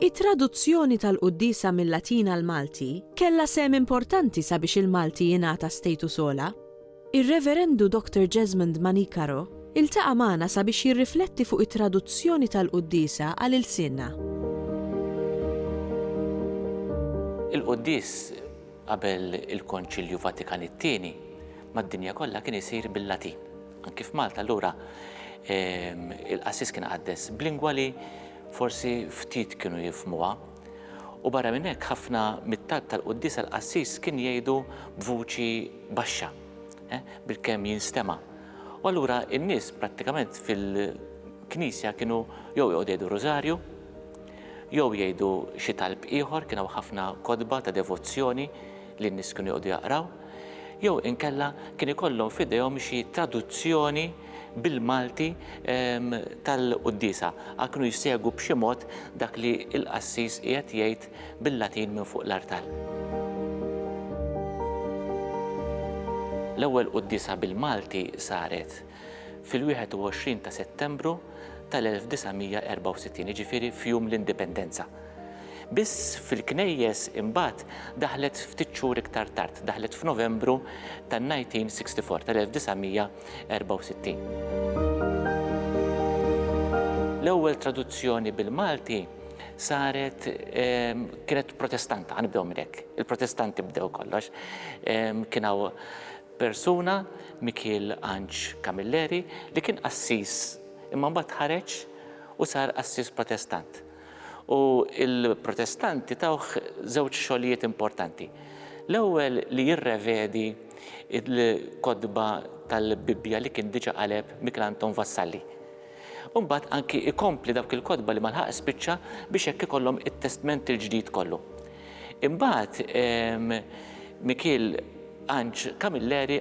It-traduzzjoni tal-quddiesa mil-Latin għall-Malti kellha sehem importanti sabiex il-Malti jingħata status ogħla. Ir-Reverendu Dottor Jesmond Manicaro iltaqa' magħna sabiex jirrifletti fuq it-traduzzjoni tal-quddiesa għal ilsienna. Il-quddies qabel il-Konċilju Vatikan it-Tieni mad-dinja kollha kien isir bil-Latin. Anki f'Malta allura il-qassis kien iqaddes b'lingwa li forsi ftit kienu jifhmuha U barra minn hekk ħafna mit-talb tal-quddiesa l-qassis kien jgħidu b'vuċi baxxa, bilkemm jinstema'. U allura n-nies prattikament fil-knisja kienu jew joqogħdu jgħidu rużarju, jew jgħidu xi talb ieħor, kien hawn ħafna kotba ta' devozzjoni, li n-nies kienu joqogħdu jaqraw, jew inkella kien ikollhom f'idejhom xi traduzzjoni bil-Malti tal-quddiesa, għal kienu jsegwu b'xi mod dak li l-qassis qiegħed jgħid bil-Latin minn fuq l-artal. L-ewwel quddiesa bil-Malti saret fil-21 ta' Settembru tal-1964, jiġifieri f'jum l-Indipendenza. Biss fil-knejjes imbagħad daħlet ftit xhur iktar tard, daħlet f'Novembru tan-1964, tal-1964. L-ewwel traduzzjoni bil-Malti saret kienet Protestanta, ħa nibdew minn hekk, il-Protestanti bdew kollox. Kien hawn persuna, Mikiel Anġ Camilleri, li kien qassis imma mbagħad ħareġ u sar qassis Protestant. U l-Protestanti tawh żewġ xogħlijiet importanti. L-ewwel li jirrevedi l-kotba tal-Bibbja li kien diġà qaleb Mikel Anton Vassalli. U mbagħad anki ikompli dawk il-kotba li ma lħaq spiċċa biex hekk ikollhom it-Testment il-Ġdid kollu. Imbagħad ehm, Mikiel Anġ Camilleri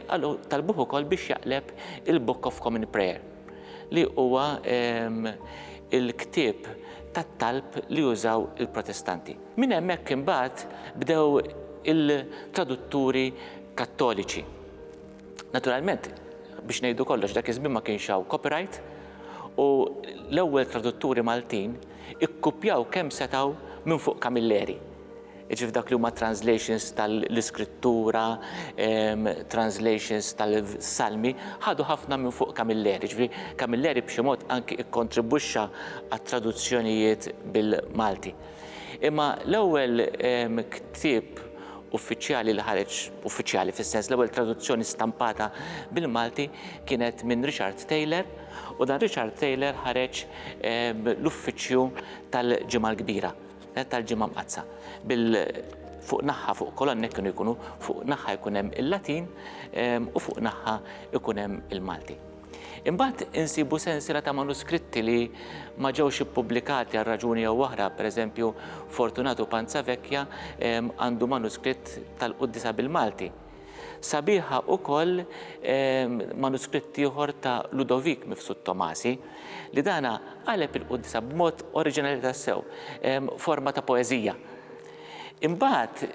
talbuh ukoll biex jaqleb il-Book of Common Prayer. li huwa l-ktieb tat-talb li użaw il-Protestanti. Minn hemmhekk imbagħad bdew il-tradutturi Kattoliċi. Naturalment, biex ngħidu kollox, dak iż-żmien ma kienx hawn copyright u l-ewwel tradutturi Maltin ikkupjaw kemm setgħu minn fuq Camilleri. jiġifieri f'dak li huma translations tal-Iskrittura, translations tal-Salmi, ħadu ħafna minn fuq Camilleri, jiġifieri Camilleri b'xi mod anki kkontribwixxa għat-traduzzjonijiet bil-Malti. Imma l-ewwel ktieb uffiċjali li ħareġ, uffiċjali fis-sens l-ewwel traduzzjoni stampata bil-Malti kienet minn Richard Taylor u dan Richard Taylor ħareġ l-Uffiċċju tal-Ġimgħa l-Kbira. L-Għid tal-Ġimgħa Mqaddsa, bil fuq naħħa fuq kolonnek kienu jkunu fuq naħħa jkun hemm il-Latin u fuq naħħa jkun hemm il-Malti. Imbagħad insibu sensiela ta' manuskritti li ma ġewx ippubblikati għal raġuni jew oħra, pereżempju Fortunatu Panzavecchia għandu manuskritt tal-Quddisa bil-Malti. Sabiħa ukoll manuskritt ieħor ta' Ludovik Mifsud Tomasi li dana qaleb il-quddiesa b'mod oriġinali tassew, forma ta' poeżija. Imbagħad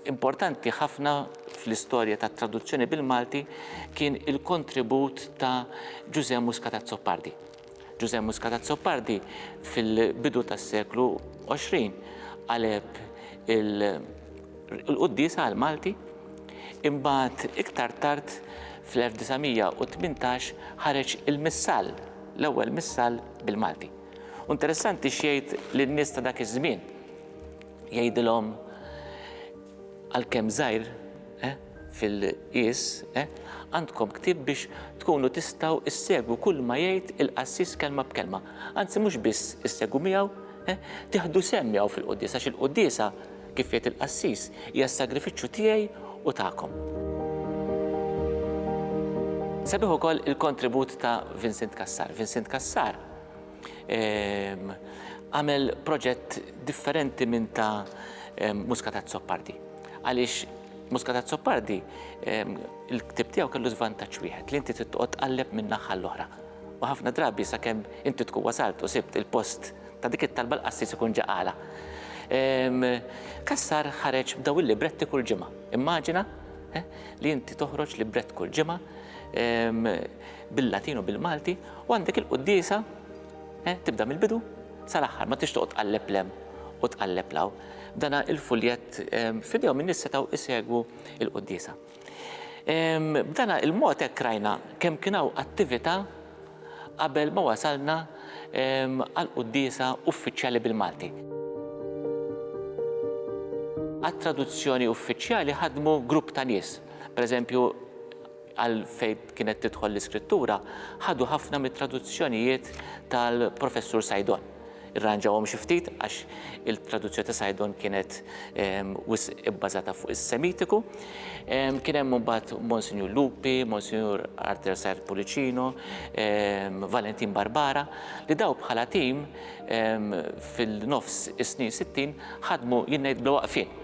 importanti ħafna fl-istorja tat-traduzzjoni bil-Malti kien il-kontribut ta' Ġużè Muscat Azzopardi. Ġużè Muscat Azzopardi fil-bidu tas-seklu 20 qaleb il-quddiesa għall-Malti, imbagħad iktar tard fl-1918 ħareġ il-Missal, l-ewwel Missal bil-Malti. U interessanti x'jgħid lin-nies ta' dak iż-żmien. Jgħidilhom għalkemm żgħir, eh, fil-qies, għandkom ktieb biex tkunu tistgħu ssegwu kull ma jgħid il-qassis kelma b'kelma. Anzi mhux biss issegwu miegħu, tieħdu sehem miegħu fil-quddiesa għax il-quddiesa, kif jgħid il-qassis, hija s-sagrifiċċju tiegħi u tagħkom. Sabiħ ukoll il-kontribut ta' Vincent Cassar. Vincent Cassar għamel proġett differenti minn ta' Muscat Azzopardi għaliex Muscat Azzopardi, il-ktib tiegħu kellu żvantaġġ wieħed li inti titqgħod tqalleb minn naħħa l-oħra. U ħafna drabi sakemm inti tkun wasalt u sibt il-post ta' dik it-talba l-qassis ikun ġaqala. Kassar ħareġ b'daw il-libretti kull ġimgħa. Immaġina eh, li inti toħroġ librett kull ġimgħa bil-Latin u bil-Malti u għandek il-quddisa Eh, tibda mill-bidu sal-aħħar, ma tix toqgħod tqalleb lem u tqalleb law. Dana il-fuljett ehm, fidejhom min setgħu isegwu il-quddiesa. Ehm, b'dana il-mod hekk rajna kemm kien hawn attività qabel ma wasalna ehm, għal quddiesa uffiċjali bil-Malti. Għat-traduzzjoni uffiċjali ħadmu grupp ta' nies, pereżempju għal fejn kienet tidħol l-iskrittura, ħadu ħafna mit-traduzzjonijiet tal-Professur Saidon. Irranġawhom xi ftit għax il-traduzzjoni ta' Saidon kienet wisq ibbażata fuq is-Semitiku. Kien hemm imbagħad Monsinjur Lupi, Monsinjur Arthur Said Pullicino, Valentin Barbara, li dawn bħala tim fil-nofs is-snin sittin ħadmu jien ngħid bla waqfien.